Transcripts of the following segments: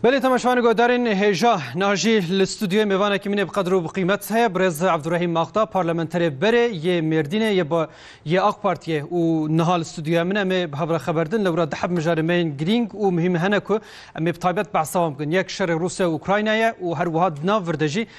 Belê temeşvanê godarên hêja najî li stûdyoyê mêvanekî min ê bi qedr û bi qîmet heye birêz Abdurrahîm Maxda parlamenterê berê yê Mêrdînê yê bi yê AK Partiyê û niha li stûdyoya min em ê bi hevre xeberdin lewra diheb mijarê me yên girîng û muhîm hene ku em ê bi taybet behsa wan bikin. Yek şerê Rûsya û Ukraynayê ye û her wiha di nav vir de jî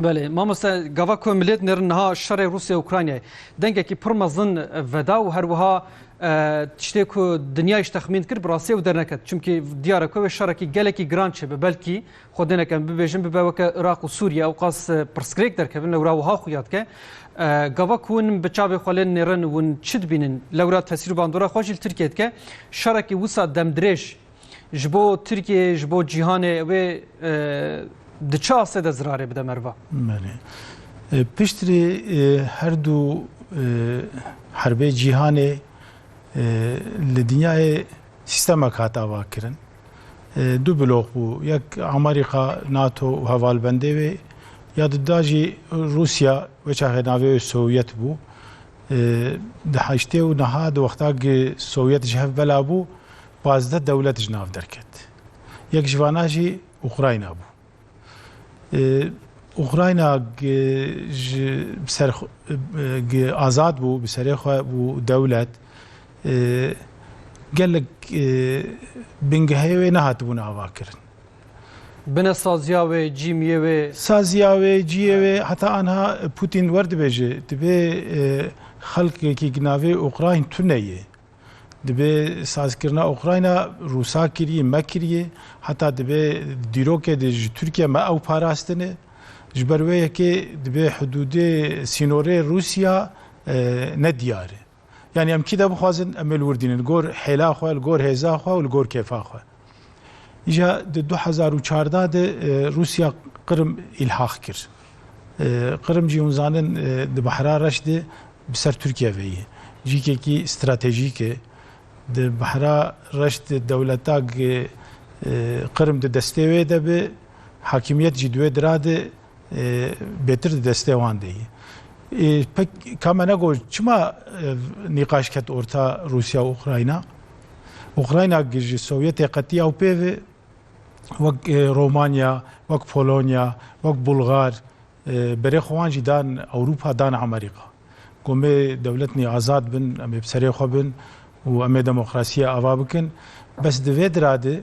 Belê mamoste gava ku milêt nêrin niha şerê Rûsya Ukraynayê dengekî pir mezin veda û her wiha tiştê ku dinyayî ji texmîn kir bi rastî ew derneket. Çimkî diyar e ku wê şerekî gelekî giran çêbe belkî xwe dêneke em bibêjin bibe weke Iraq û Sûriye ew qas pirsgirêk derkevin lewra wiha xuya dike. Gava ku hûn bi çavê xwe lê nêrin hûn çi dibînin lewra tesîr û bandora xwe jî li Tirkiye dike. Şerekî wisa demdirêj Ji bo Tirkiyeyê, ji bo cîhanê wê di çi astê de zirarê bide merva? Belê. Piştrî her du herbê cîhanê li dinyayê sîstemek hat avakirin. Du blok bû. Yek Amerîka, NATO û hevalbendê wê ya di da jî Rûsya wê çaxê navê wê Sovyet bû. Di heştê û niha di wexta ku Sovyet ji hev bela bû, Pazdeh dewlet ji nav derket. Yek ji vanan jî Ukrayna bû. Ukrayna ji ser azad bû, bi serê xwe bû dewlet. Gelek bingehê wê nehatibûn avakirin. Bine saziya wê, cîmiyê wê. Saziya wê, ciyê wê heta anha Pûtîn werdibêje, divê xelkekî navê Ukrayn tune yê. Dibe sazkirina Ukrayna Rûsa kiriye, me kiriye, heta dibe dîrokê de ji Tirkiye me ew parastine. Ji ber wê yekê dibe hidûdê sînorê Rûsya ne diyar e. Yanî em kî de bixwazin em ê li wir dînin li gor hêla xwe, li gor hêza xwe û li gor kêfa xwe. Îja di du hezar û çardeh de Rûsya Qrim îlhaq kir. Qrim jî hûn zanin di Behra Reş de bi ser Tirkiye ve ye. Cîkekî stratejîk e. Di Behra Reş de dewleta Qrim di destê wê de be, hakimiyet jî di wê dira de bêtir di destê wan de ye. Pek ka me ne got çima ev nîqaş ket orta Rûsya û Ukrayna? Ukrayna ki ji Sovyetê qetî ew pê ve wek Romanya, wek Polonya, wek Bulgar berê xwe wan jî dan Ewropa, dan Amerîka. Got me dewletnê azad bin, em ê bi serê xwe bin û em ê demokrasiyê ava bikin. Bes di vê dira de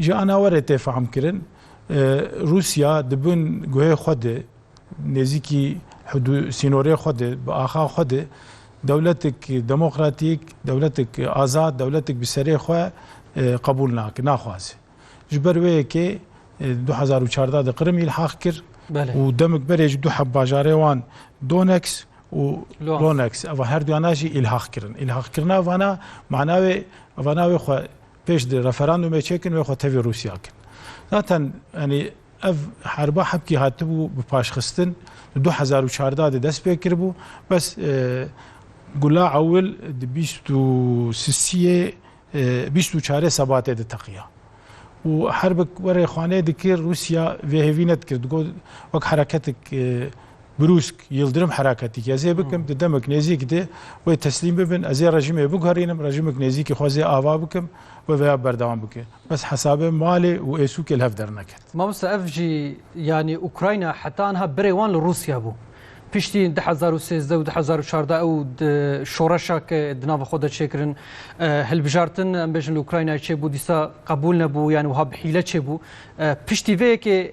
Ji anawerê tê fehmkirin Rûsya di bin guhê xwe de nêzîkî sînorê xwe de bi axa xwe de dewletek demokratîk, dewletek azad, dewletek bi serê xwe qebûl nake, naxwaze. Ji ber wê yekê du hezar û çardeh de Qirim îlhaq kir û demik berê ji du hevbajarê wan Doneks û Loneks eva herduyanan jî îlhaq kirin. Îlhaqkirina evana mana wê evana wê xwe Pêş di referandumê çêkin wê xwe tevî Rûsya kin. Zaten yanî ev herba hepkî hatibû bi paşxistin di du hezar û çardeh de dest pê kiribû. Bes gula ewil di bîst û sisiyê bîst û çarê sebatê de teqiya. û herbik werê xanê dikir Rûsya vê hêvî nedikir. Digot wek hereketik Brûsk, Yildirim heraketîkî ez ê bikim, di demek nêzîk de wê teslîm bibin, ez ê rejîmê biguherînim, rejîmik nêzîkî xwe zê ava bikim, wê vêya berdewam bike. Bes hesabê malê û êsûkê li hev derneket. Mamosta ev jî yanî Ukrayna heta niha birê wan li Rûsya bû. Piştî du hezar û sêzdeh û du hezar û çardeh ew di şoreşa ke di nava xwe de çêkirin hilbijartin em bêjin li Ukraynayê çêbû dîsa qebûl nebû yanî wiha bi hîle çêbû. Piştî vê yekê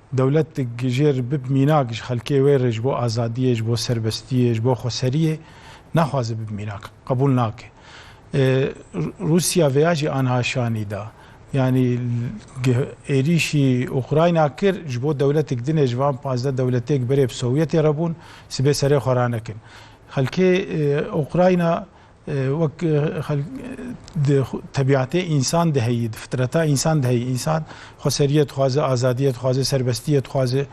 Dewlet di jêr bib mînak ji xelkê wê re ji bo azadiyê, ji bo serbestiyê, ji bo xweseriyê naxwaze bib mînak, qebûl nake. Rûsya vêya jî anha şanî da. Yanî êrîşî Ukrayna kir ji bo dewletik din e, ji van pazdeh dewletêk berê bi Sovyetê re bûn, sibê serê xwe ranekin. Xelkê Ukrayna Wek xelk di tebîatê însan de heyî, di fitreta însan de heyî. Însan xweseriyê dixwaze, azadiyê dixwaze, serbestiyê dixwaze.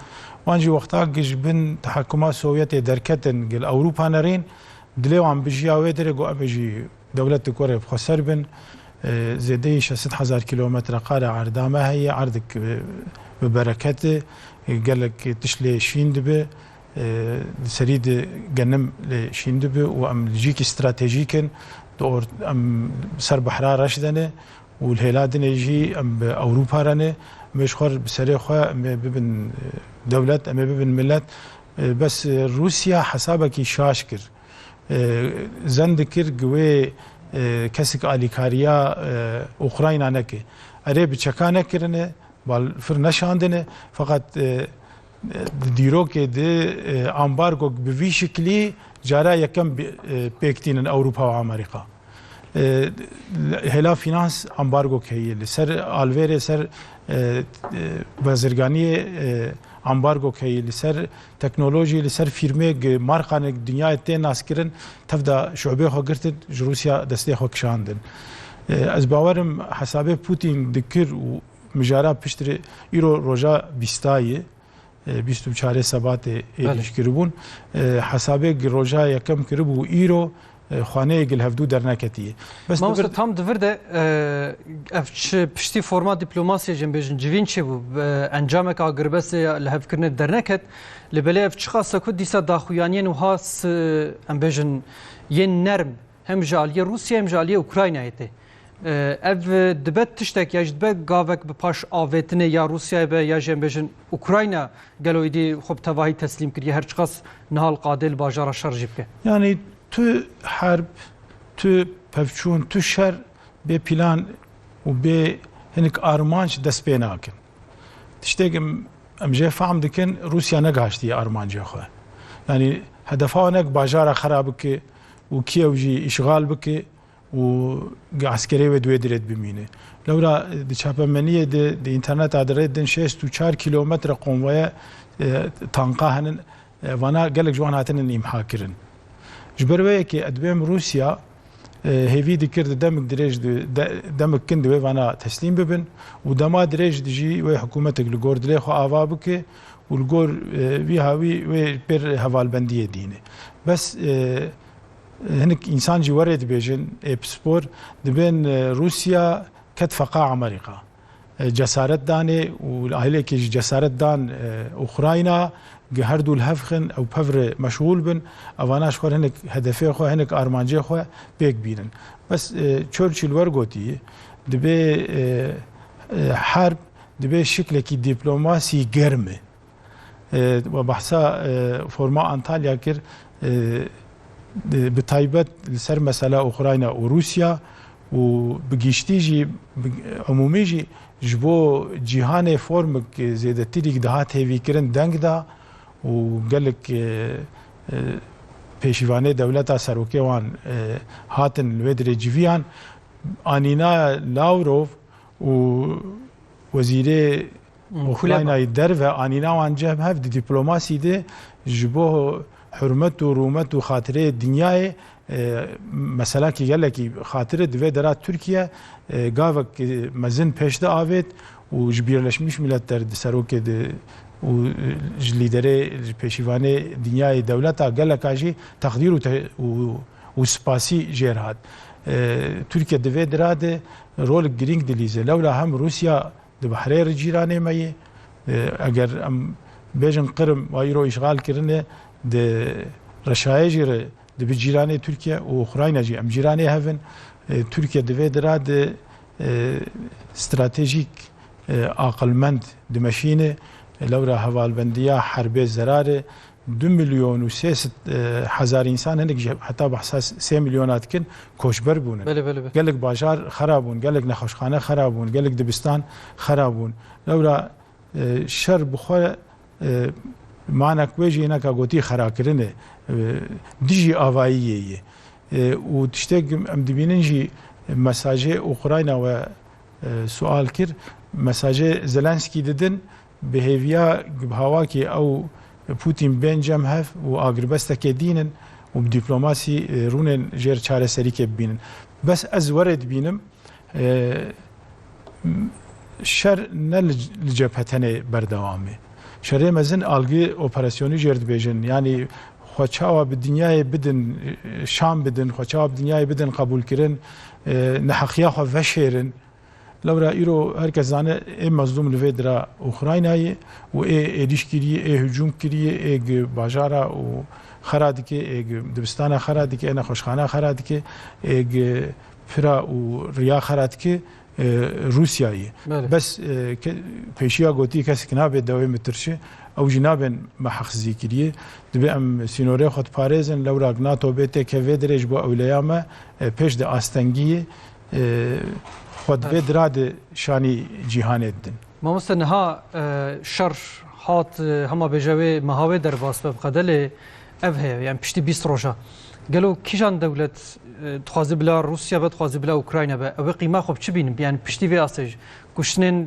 Wan jî wexta ku ji bin tehekuma Sovyetê derketin gel Ewropa nerên, dilê wan bijiya wê dirê ku em ê ji dewletik we re bi xweser bin. Zêdeyî şeş sed hezar kîlometreqare erda me heye, erdek bi bereket e, gelek tişt lê şîn dibe. Di serî de genim lê şîn dibe û em li cîkî stratejîk in. Di or em bi ser behra reş de ne û li hêla din ê jî em bi Ewropa re ne. Em ê ji xwe re bi serê xwe em ê bibin dewlet, em ê bibin milet. Bes Rûsya hesabekî şaş kir. Zen dikir ku wê kesik alîkariya Ukrayna neke. Erê bi çeka nekirine, balfir neşandine feqet Di dîrokê de ambargok bi vî şiklî cara yekem pêk tînin Ewropa û Amerîka. Hêla fînans ambargok heye li ser alvêrê ser bazirganiyê ambargok heye li ser teknolojî li ser fîrmêk markanek dinyayê tê naskirin tevda şubê xwe girtin ji Rûsya destê xwe kişandin. Ez bawerim hesabê Pûtîn dikir û Mijara piştre îro roja bîstayê bîst û çarê sebatê êrîş kiribûn. Hesabê gi roja yekem kiribû îro xaneyê gil hevdû derneketiye. Bes Mamosta tam divir de ev çi piştî forma diplomasiyê jin bêjin civîn çê bû encamek a girbestê ya li hevkirinê derneket li belê ev çiqase ku dîsa daxuyaniyên wiha em bêjin yên nerm Hem ji aliyê Rûsyayê hem ji aliyê Ukraynayê tê. Ev dibe tiştek ya ji dibe gavek bi paş avêtinê ya Rûsyayê be ya jî em bêjin Ukrayna gelo îdî xwe bi tevahî teslîm kiriye her çiqas nihal qadê li bajara şer jî bike. Yanî tu herb, tu pevçûn, tu şer bê pîlan û bê hinik armanc dest pê nakin. Tiştek em em jê fehm dikin Rûsya negihiştiye armancê xwe. Yanî hedefa wan ne bajara xera bike, û Kîev jî îşxal bike û eskerê wê di wê dirê de bimîne. Lewra di çapemeniyê de di înterneta de rê din şêst û çar kîlometre konvoya tanka henin, vana gelek ji wan hatinin îmhakirin. Ji ber wê yekê ez dibêm Rûsya hêvî dikir di demik dirêj de demik kin di wê vana teslîm bibin û dema dirêj de jî wê hikûmetek li gor dilê xwe ava bike. û li gor vî hawî wê li pêr hevalbendiyê dîne. Bes hinik însan jî werê dibêjin ê pispor dibên Rûsya ket feqa Amerîka. Cesaret danê û li ahlekê jî cesaret dan Ukrayna gi her dû li hev xin ew pevre meşgûl bin evana ji xwe hinik hedefê xwe hinik armancê xwe pêk bînin. Bes Churchill wergotî dibê herb Divê şiklekî dîplomasî germ e. We behsa Foruma Antalya kir bi taybet li ser mesela Ukrayna û Rûsya û bi giştî jî bi emûmî jî ji bo cîhanê formik zêdetirîk dihat hêvîkirin deng da û gelek pêşîvanê dewleta serokê wan hatin li wê dirê civiyan. Anîna Lawrov, û wezîrê Ukraynayê derve anîna wan cem hev di dîplomasî de ji bo hurmet û rûmet û xatireyê dinyayê meseleke gelekî xatir e. Di vê dera Tirkiye gavek mezin pêş de avêt û ji Bîrleşmiş Miletler di serokê de û ji lîderê ji pêşîvanê dinyayê dewleta geleka jî teqdîr û spasî jêr hat. Tirkiye di vê dira de rolek girîng dilîze. Lewla hem Rûsya di bahrê re cîranê me ye. Eger em bêjin Qirm wa îro îşgal kirine di reşayê jî re dibi cîranê Tirkiye û Ukrayna jî em cîranê hev in. Tirkiye di vê dira de stratejîk aqilmend dimeşîne. Lewra hevalbendiya herbê zerar e. Du milyon û sê sed hezar însan hinek jî heta behsa sê milyona dikin koçber bûn in. Gelek bajar xera bûn, gelek nexweşxane xera bûn, gelek dibistan xera bûn. Lewra şer bi xwe manek wê jî hineka gotî xerakirin e. Dijî avayiyê ye. Û tiştek em dibînin jî mesajê Ukrayna we sual kir, mesajê Zelensky didin Bi hêviya Gbhavakê ew û Pûtîn bên cem hev û agiribestekê dînin û bi dîplomasî rûnên jêr çareserîkê bibînin. Bes ez werê dibînim şer ne li cephe tenê berdewam e. Şerê mezin algi operasyonî jêr dibêjin. Yanî xwe çawa bi dinyayê bidin, şan bidin, xwe çawa bi dinyayê bidin qebûlkirin, neheqiya xwe veşêrin. Lewra îro her kes zane ê mezlûm li vê dira Ukraynayê û ê êrîş kiriye, ê hicûm kiriye, ê gi bajara û xera dike, ê gi dibistana xera dike, ê nexweşxana xera dike, ê gi pira û riya xera dike Rûsyayê. Bes pêşiya gotiye kesek nabe dewê mitirşi, ew jî nabên meheqsizî kiriye. Dibe em sînorê xwe diparêzin, lewra NATO bê têke vê dirê ji bo ewleya me pêş de astengiyê Xwe dibe dira di şanî cîhanê didin. Mamoste niha şer hat hema bêje wê meha wê derbas be biqede lê ev heye yani piştî bîst roja. Gelo kîjan dewlet dixwaze bila Rûsya be dixwaze bila Ukrayna be ew ê qîma xwe bi çi bînin yani piştî vê astê kuştinên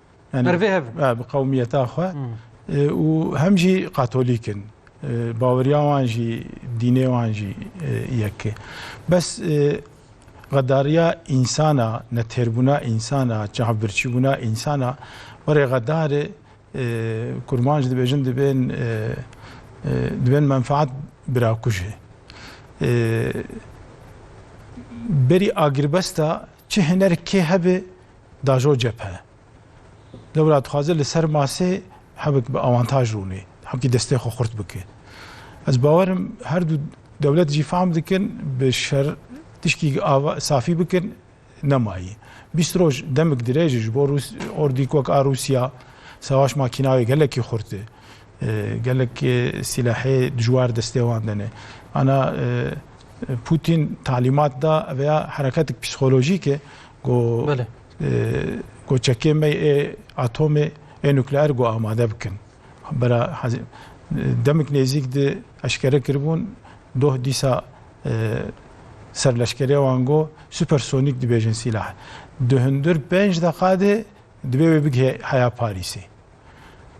bi qewmiyeta xwe û hem jî katolîk in. Baweriya wan jî dînê wan jî yek e. Bes xedariya însana, netêrbûna însana, çavbirçîbûna însana werê xedarê kurman jî dibêjin dibên dibên menfaat birakujê. Berî agirbesta çi hinerkê hebe Dajo cephe lewra dixwaze li ser masê hevik bi awantaj rûnê, hevkî destê xwe xurt bike. Ez bawer im her du dewlet jî fehm dikin bi şer tişkî ava safî bikin nemayî. Bîst roj demik dirêj e ji bo Rûs ordîk wek a Rûsya sewaş makînayê gelekî xurt e. Gelek sîlahê dijwar destê wan de ne. Ana Pûtîn talîmat da veya hereketik psîkolojîk e ku ku çekê me ê atomê ê nukleer ku amade bikin. Bera demik nêzîk di eşkere kiribûn doh dîsa ser leşkerê wan got supersonîk dibêjin sîlah. Di hundir penc deqa de dibê wê bigihê heya Parîsê.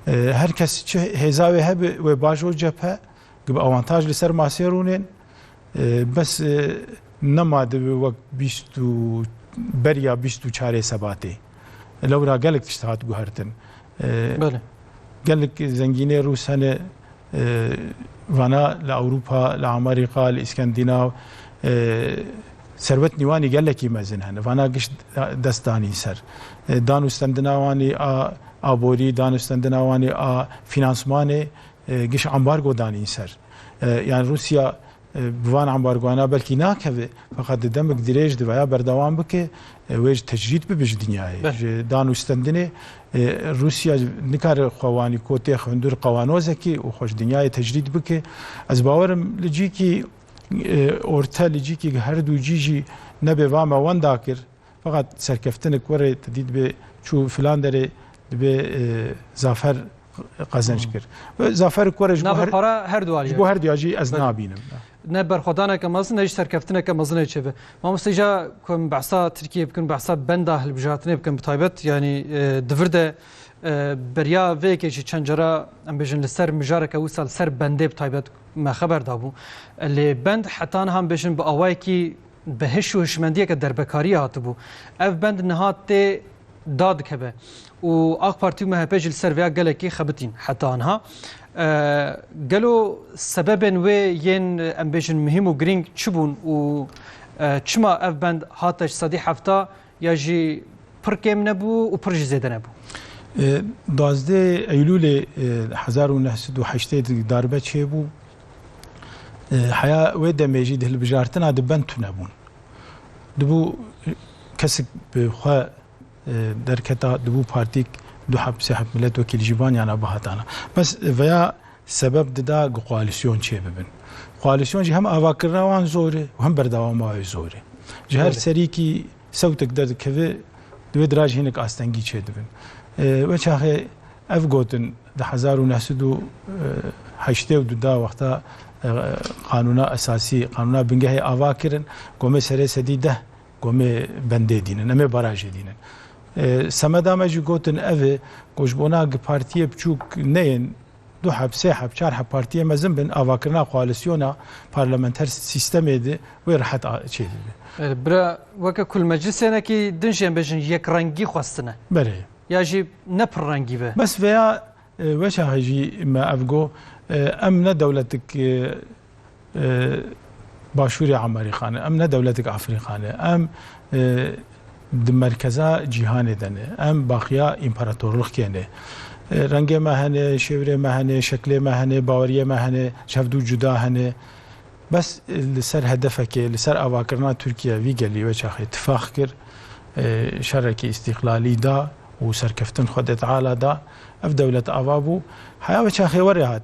Her kes çi hêza wê hebe wê baş û cephe gibi awantaj li ser masê rûnên bes nema dibi wek bîst û beriya bîst û çarê sebatê. Lewra gelek tişt hat guhertin. Gelek zengînê Rûs hene Vana li Ewropa, li Amerîka, li Îskendînav serwet nîwanî gelekî mezin hene. Vana gişt dest danîn ser dan û stendina wanî a aborî, dan û stendina wanî a fînansmanê, giş ambargo danîn ser. Yan Rûsya Bi van ambargoana belkî nakeve feqet di demik dirêj dibe ya berdewam bike wê ji tecrîd bibe ji dinyayê. Ji dan û stendinê Rûsya nikare xwe wanî kotê hundir qewanozekî û xwe ji dinyayê tecrîd bike. Ez bawerim li cîkî orte li cîkî herdû cî jî nebê va me wenda kir. Feqet serkeftinik were ti dî dibe çû filan derê dibe zafer qezenç kir. Zaferik were ji bo para her duar ji bo her duya jî ez nabînim. Ne berxwedaneke mezin ne jî serkeftineke mezinê çêbe. Mamoste îja ku em behsa Tirkiyê bikin behsa benda hilbijartinê bikin bi taybet yanî di vir de beriya vê yekê jî çend cara em bêjin li ser mijareke wisa li ser bendê bi taybet me xeber dabû. Lê bend heta niha em bêjin bi awayekî Bi hiş û hişmendiyeke derbekariyê hatibû. Ev bend niha tê da dikeve û Ak Partî û MHP jî li ser vêya gelekî xebitîn heta anha. Gelo sebebên wê yên em bêjin muhîm û girîng çi bûn û çima ev bend hate ji sedî hefta Ya jî pir kêm nebû û pir jî zêde nebû. Duazdeh Eylûlê hezar û neh sed û heştê di darbe çêbû. Heya wê demê jî di hilbijartina di bend tune bûn. Dibû kesik bi xwe derketa, dibû partîk du heb sê heb miletvekîl ji van yana bihatana. Bes veya sebeb dida ku koalîsyon çêbibin. Koalîsyon jî hem avakirina wan zor e û hem berdewama wê zor e. Ji her serîkî sewtek derdikeve di wê dirajê hinek astengî çêdibin. Wê çaxê ev gotin di hezar û neh sed û heştê û du da wexta qanûna esasî, qanûna bingehê ava kirin ku em ê serê sedî deh Ku em ê bendê dînin, em ê barajê dînin. Semeda me jî gotin ev e ku ji bona gi partiyê biçûk neyên du heb, sê heb, çar heb partiyê mezin bin, avakirina koalisyona parlamenter sîstemê di wê rehet çê dibe. Bira weke ku li meclisê ne kî din jî em bêjin yekrengî xwestine. Belê. Ya jî ne pirrengî be. Bes veya weşa hejî me ev go em ne dewletik Başûrê Amerîka ne, em ne dewletek Afrîka ne, em di merkeza cîhanê de ne, em baqiya împaratorlixkê ne. Rengê me hene, şêwirê me hene, şeklê me hene, baweriyê me hene, ji hev dû cuda hene. Bes li ser hedefekê, li ser avakirina Tirkiye vî gelî weçaxê tifax kir, şerekî îstîqlalî da û serkeftin xwe dê teala da. Ev dewlet ava bû. Heya weçaxê were hat.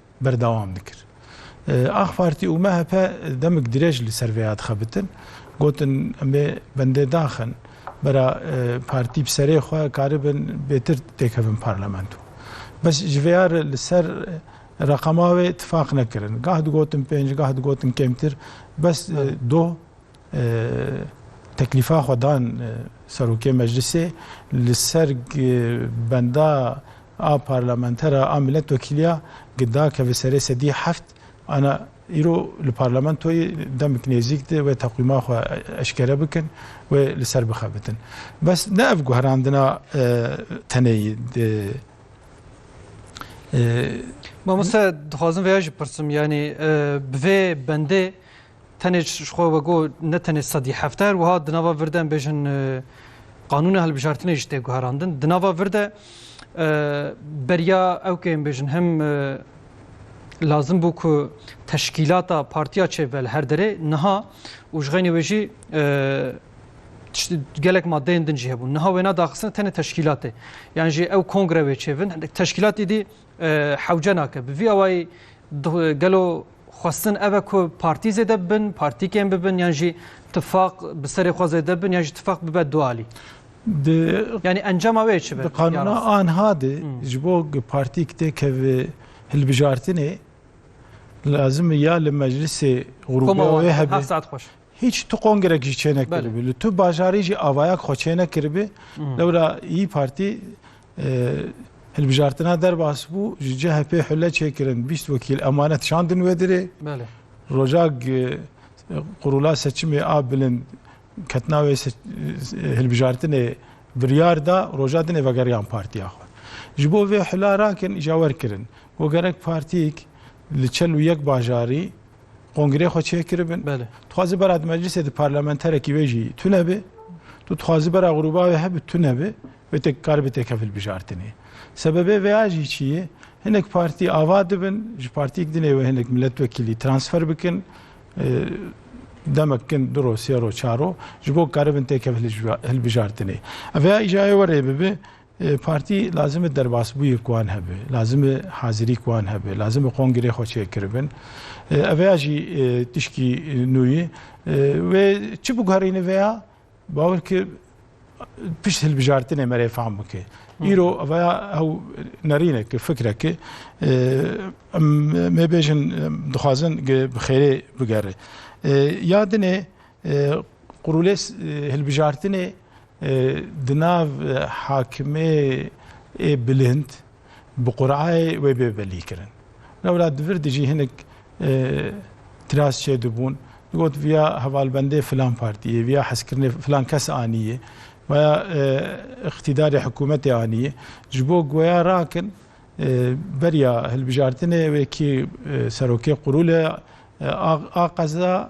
berdewam dikir. Ax Partî û MHP demik dirêj li ser vê ya dixebitin. Gotin em ê bendê daxin bera partî bi serê xwe karibin bêtir têkevin parlamento. Bes ji vê ya re li ser reqema wê tifaq nekirin. Gah digotin pênc gah digotin kêmtir bes doh Teklîfa xwe dan Serokê Meclisê li ser benda a Parlamentera a Miletwekîliya Gida keve serê sedî heft ana îro li Parlamentoyê demik nêzîk di wê teqwîma xwe eşkere bikin wê li ser bixebitin. Bes ne ev guherandina teneyî di. Mamoste dixwazim vêya jî pirsim yanî bi vê bendê Tenê ji xwe vegot ne tenê sedî hefter wiha di nava vir de em bêjin qanûna hilbijartinê jî tê guherandin. Di nava vir de beriya ew kê em bêjin hem lazim bû ku teşkîlata partiya çêbe li her derê niha û ji xeynê wê jî gelek madeyên din jî hebûn. Niha wêna daxistin tenê teşkîlatê. Yan jî ew kongre wê çêvin teşkîlatî dî Hewce nake. Bi vî awayî gelo xwestin ev e ku partî zêde bibin, partîkên bibin yan jî tifaq bi serê xwe zêde bibin yan jî tifaq bibe du alî? Di Yanî encama wê çi be? Di qanûna anha de ji bo partîk têkeve hilbijartinê lazim e ya li meclisê grûpê wê hebe. Hîç tu kongrek jî çênekiribû. Li tu bajarî jî avayak xwe çênekiribû. Lewra Îyi Partî hilbijartina derbas bû, ji CHP'ê hule çêkirin bîst wekîl emanet şandin wê dirê. Rojak qurula seçimê a bilind ketina wê hilbijartinê biryar da, roja dinê vegeriyan partiya xwe. Ji bo vê hula rakin îja werkirin. Got gerek partîyek li çel û yek bajarî Kongrê xwe çêkiribin. Tu xwazî bera di meclisê di parlamenterekî wê jî tu nebê. Tu dixwazî bera grûba wê hebû tu nebê. Wê tê kar bi têke hilbijartinê. Sebebê vê ya jî çi ye? Hinek partî ava dibin, ji partîk dinê wê hinek milletvekîlî transfer bikin. Demek kin duro, sêro, çaro ji bo karibin têke hilbijartinê. Ev ya îjayê werê bibe Partî lazim e derbasbûyek wan hebe, lazim e hazirîk wan hebe, lazim e kongrê xwe çêkiribin. Ev ya jî tişkî nû yî. Wê çi biguherîne vê ya? Bawer ke pişt hilbijartinê me rê fam bike. Îro ev ya ew nerîneke, fikreke em mê bêjin dixwazin ke bi xêrê bigere. Ya dinê qurûlês hilbijartinê Di nav hakimê ê bilind bi qurayê wê bê belî kirin. Lewra di vir de jî hinek tiras çêdibûn, digot viya hevalbendê filan partiyê, viya hezkirinê filan kes aniyê, waya îqtîdarê hikûmetê aniyê. Ji bo guya rakin beriya hilbijartinê wê kî serokê qurûlê a qeza,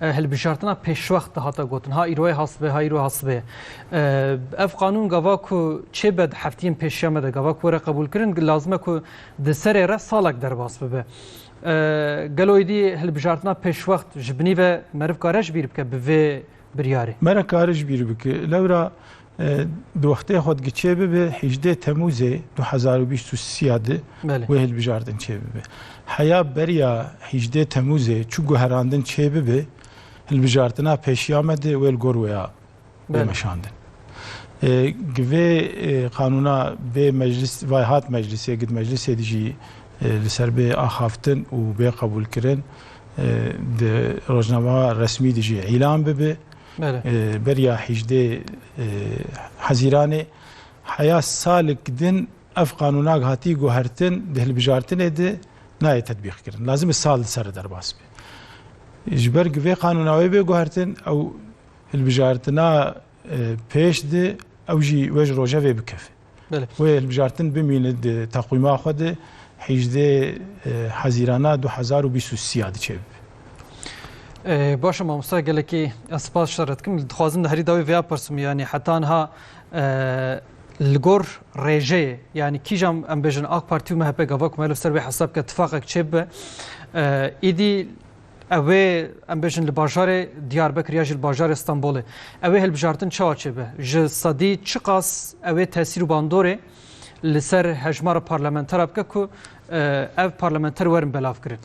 Hilbijartina pêşwext dihate gotin ha îro ye ha sibê ha îro ye ha sibê ye. Ev qanûn gava ku çêbe di heftiyên pêşiya me de gava ku were qebûlkirin lazim e ku di serê re salek derbas bibe. Gelo êdî hilbijartina pêşwext ji binî ve meriv kare ji bîr bike bi vê biryarê? Mere kare ji bîr bike. Lewra Di wextê xwe dike çêbibe hîjdeh Temûzê du hezar û bîst û sî ya di wê hilbijardin çêbibe. Heya beriya hîjdeh Temûzê çi guherandin çêbibe, hilbijartina pêşiya me di wê li gor wê ya bêmeşandin. Gi vê qanûna bê meclis vay hat meclisê gid meclisê di jî li ser bê axaftin û bê qebûlkirin di rojnameya resmî di jî îlan bibe. Beriya hîjdê Hezîranê heya salik din ev qanûnak hatî guhertin di hilbijartinê di nayê tetbîqkirin. Lazim e sal di ser re derbas be. Ji ber ku vê qanûna wê bê guhertin ew hilbijartina pêş di ew jî wej rojevê bikeve. Wê hilbijartin bimîne di teqwîma xwe de hîjdê hezîrana du hezar û bîst û sî ya diçêbibe. Baş e mamosta gelekî ez spas ji te re dikim. Dixwazim li herî dawî vêya pirsim yanî heta niha li gor rêjeyê yanî kîjan em bêjin ak partî û MHP gava ku me li ser wê hesab bike tifaqek çêbibe êdî Ew ê em bêjin li bajarê Diyarbekir ya jî li bajarê Stenbolê. Ew ê hilbijartin çawa çêbe? Ji sedî çiqas ew ê tesîr û bandorê li ser hejmara parlamenteran bike ku ev parlamenter werin belavkirin?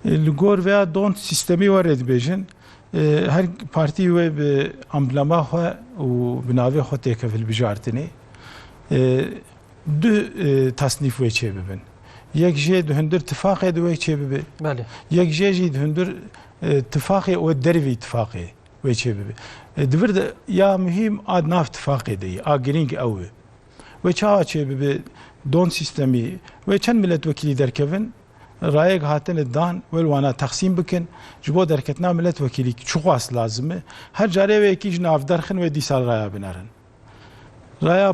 Li gor vêya don sîstemî werê dibêjin her partî wê bi amblema xwe û bi navê xwe têkevhilbijartinê du tasnîf wê çêbibin. Yek jê di hundir tifaqê di wê çê bibê. Belê. Yek jê jî di hundir e, tifaqê û dervî tifaqê wê çê bibê. E, di vir de ya muhîm a di nav tifaqê de yê, a girîng ew e. Wê çawa çê bibê don sîstemî wê çend miletvekîlî derkevin rayek hatine dan wê li wana texsîm bikin ji bo derketina miletvekîlî çi xwast lazim e her carê wê yekî ji navderxin wê dîsal raya binerin. Raya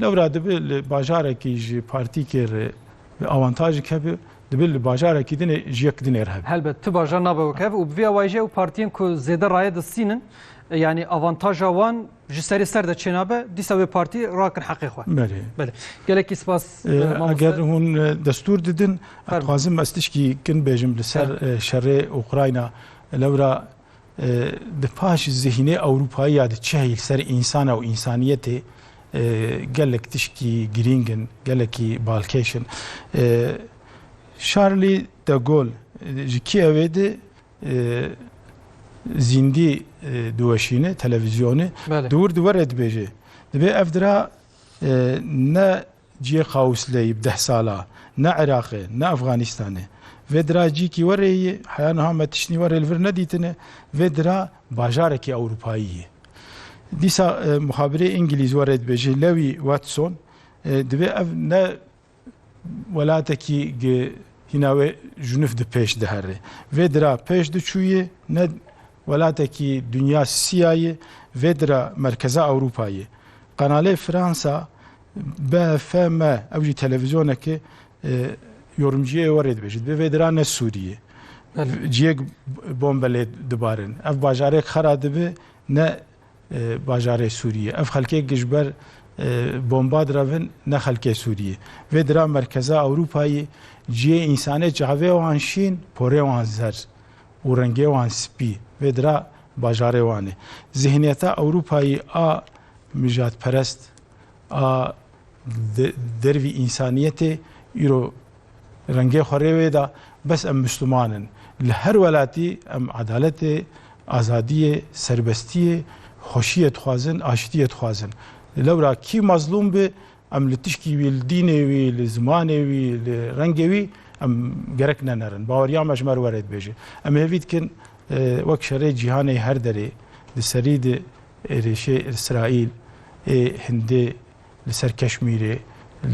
Lewra dibe li bajarekî ji partîkê re bi awantajî keve, dibe li bajarekî din ê ji yek din ê re hebe. Helbet tu bajar nabe wek hev û bi vê awayî jî ew partiyên ku zêde raye distînin yanî awantaja wan ji serê ser de çênabe dîsa wê partî rakin heqê xwe. Belê. Belê. Gelekî spas mamoste. Eger hûn destûr didin, em dixwazim ez tişkî kin bêjim li ser şerê Ukrayna. Lewra Di paş zihînê ewropayî ya di çi li ser însana û însaniyetê gelek tişkî girîng in, gelekî balkêş in. Charlie de Gaulle ji Kievê di zîndî diweşîne televîzyonê di wir di werê dibêje dibê ev dira ne Ciyê qawûsleyî bi deh sal a, ne Iraq e, ne Afganîstan e. Vê dira ciyekî wereyî ye, heya niha me tiştî werê li vir nedîtine. Vê dira bajarekî ewropayî ye. Dîsa muhabirê îngilîz werê dibêje, Lewî Watson, Divê ev ne welatekî gi hîna wê junif di pêş dihere. Vê dira pêş diçûye, ne welatekî dinya sîya ye, vê dira merkeza Ewropa ye. Qanalê Fransa BFM ew jî televîzyonekê yorumciyê we rê dibêje. Divê vê dira ne Sûriyê. Ciyêk bombe lê dibarin. Ev bajarêk xera dibe ne bajarê Sûriyê. Ev xelkêk ji ber bomba direvin ne xelkê Sûriyê. Vê dira merkeza Ewrûpayê ciyê însanê çavê wan şîn, porê wan zer û rengê wan spî. Vê dira bajarê wan e. Zîhniyeta Ewrûpayê a mijatperest a dervî însaniyetê îro rengê xwe rê wê da, bes em Mûsliman in. Li her welatî em edaletê, azadiyê, serbestiyê, xweşiyê dixwazin, aştiyê dixwazin. Lewra kî mezlûm bi, em li tişkî wî, li dînê wî, li zimanê wî, li rengê wî em gerek ne nerin. Baweriya me ji me re were dibêje. Em hêvî dikin wek şerê cîhanê her derê di serî di Êrişê Îsraîl ê hindê li ser Keşmîrê,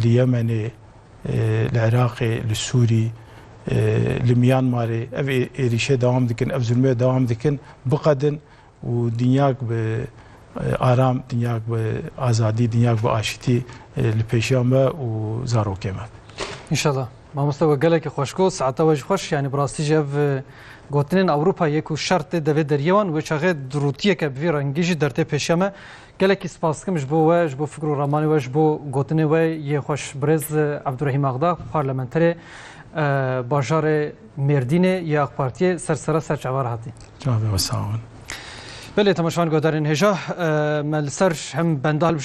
li Yemenê, li Iraqê, li Sûrî, li Miyanmarê ev êrişê dewam dikin, ev zulmê dewam dikin biqedin û dinyayek bi aram, dinyayek bi azadî, dinyayek bi aşitî li pêşiya me û zarokê me. Înşallah. Mamoste we gelekî xweş got, saeta we jî xweş, yanî bi rastî jî ev gotinên Ewropa yê ku şer tê devê deriyê wan wê çaxê dirûtiyeke bi vî rengî jî dertê pêşiya me. Gelekî spas dikim ji bo we, ji bo fikr û ramanê we, ji bo gotinê we yê xweş. Birêz Ebdurehîm Axdag, parlamenterê bajarê Mêrdînê yê AK Partiyê ser sera ser çavan re hatî. Çavê we sağ bin. Belê temaşevan guhdarên hêja me li ser hem benda hilbijêrin,